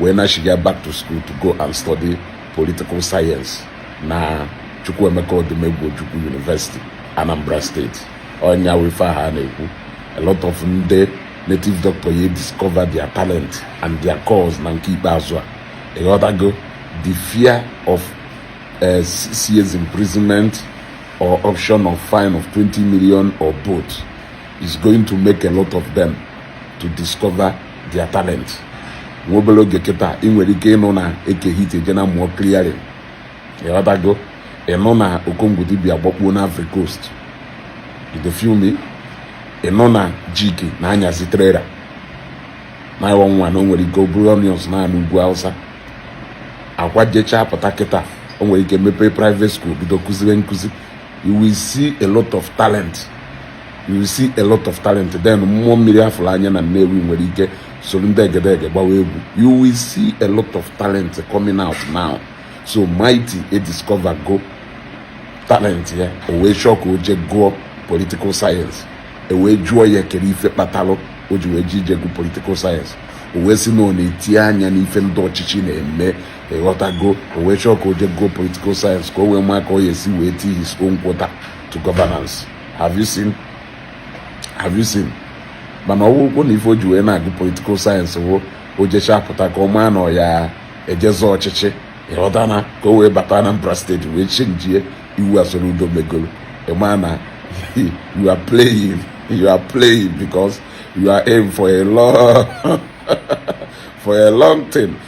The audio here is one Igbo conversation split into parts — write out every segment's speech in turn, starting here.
wee nachiga back to school to go and study political science na Chukwuemeka Odumegwu Ojukwu University Anambra State ọnya wụ ife ha na-ekwu a lot of ndị native doctor ye discover their talent and their calls na nke ikpeazụ a ịghọtago the fear of uh, six years imprisonment or option of fine of 20 million or both is going to make a lot of them to discover their talent nwa obere oge kịta ị nwere ike ịnụ na Eke Hit ejee na-amụ clearing ịghọtago ịnụ na Okongwu dibịa agbakpuo na Ivory Coast you dey feel me ịnụ na Jiki na-anyazi trailer na ịwa nwa na o nwere ike o buru onions naa n'ugwu Hausa Akwa jechaa pụta kịta o nwere ike mepee private school bido kụziwe nkụzi you will see a lot of talent you will see a lot of talent then mmụọ mmiri afụrụ anya na Nnewi nwere ike soro ndị egedege gbawa egwu you will see a lot of talent coming out now so Mighty e discover go talent ya o wee chọọ ka ọ jee gụọ political science e wee jụọ ya kere ife kpatalụ o ji wee ji ije gụ political science o wee sị na ọ na-eti anya n'ife ndị ọchịchị na-eme ịghọtago o wee chọọ ka ọ jee gụọ political science ka o wee maa ka ọ ya-esi wee tii his own quota to governance have you seen have you seen mana ọ wụkwụ na ife o ji wee na-agụ political science wụ o jechaa pụta ka ọ maa na ya eje zọọ ọchịchị ịghọta na ka o wee bata Anambra steeti wee chenjie iwu a Soludo megoro ịma na you are playing you are playing because you are in for a long for a long thing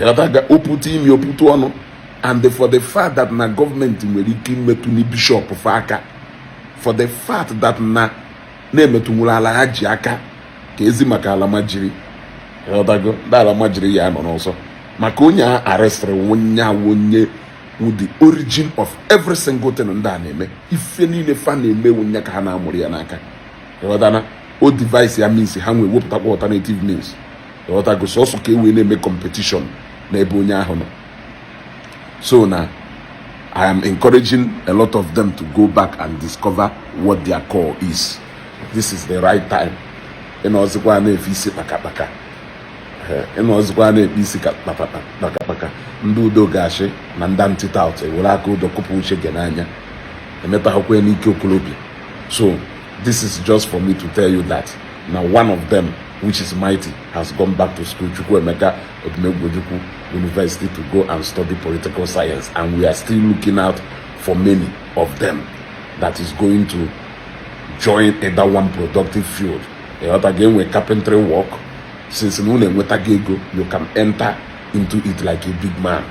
ịghọtaga ọ pụta imi ọ pụta ọnụ and for the fact that na gọọmenti nwere ike imetụ na bishọp fa aka for the fact that na na-emetụnwuru alhaji aka kezi maka almajiri ịghọtago ndị almajiri ya nọ n'ọsọ maka onye a arestịrị ọnya wụ onye with the origin of every single thing ndị a na-eme ife niile fa na-eme ọnya ka ha na-amụrụ ya n'aka ịghọtana o devise-ịa means ha ewee wepụtakwa alternative means ịghọtago sọsọ ka e wee na-eme competition n'ebe onye ahụ nọ so now I am encouraging a lot of them to go back and discover what their call is this is the right time ị nọzikwa na-efe isi kpakakpaka ị nọzikwa na-efe isi kpakakpaka ndị Udo Ga-achị na ndị anti-tout ewere aka odo kụpụ uche gị n'anya emetaghịkwa n'ike okorobịa so this is just for me to tell you that na one of them which is Mighty has gone back to school Chukwuemeka Odumegwu Ojukwu University to go and study political science and we are still looking out for many of them that is going to join either one productive field ịghọta ga-enwe carpentry work since na unu enwetaghị ego you can enter into it like a big man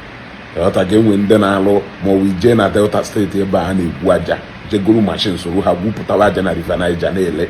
ịghọta ga-enwe ndị na-alụ ma ọ ije na Delta State ebe a na-egwu aja je goro machine soro ha gwupụtawa aja na River Niger na-ele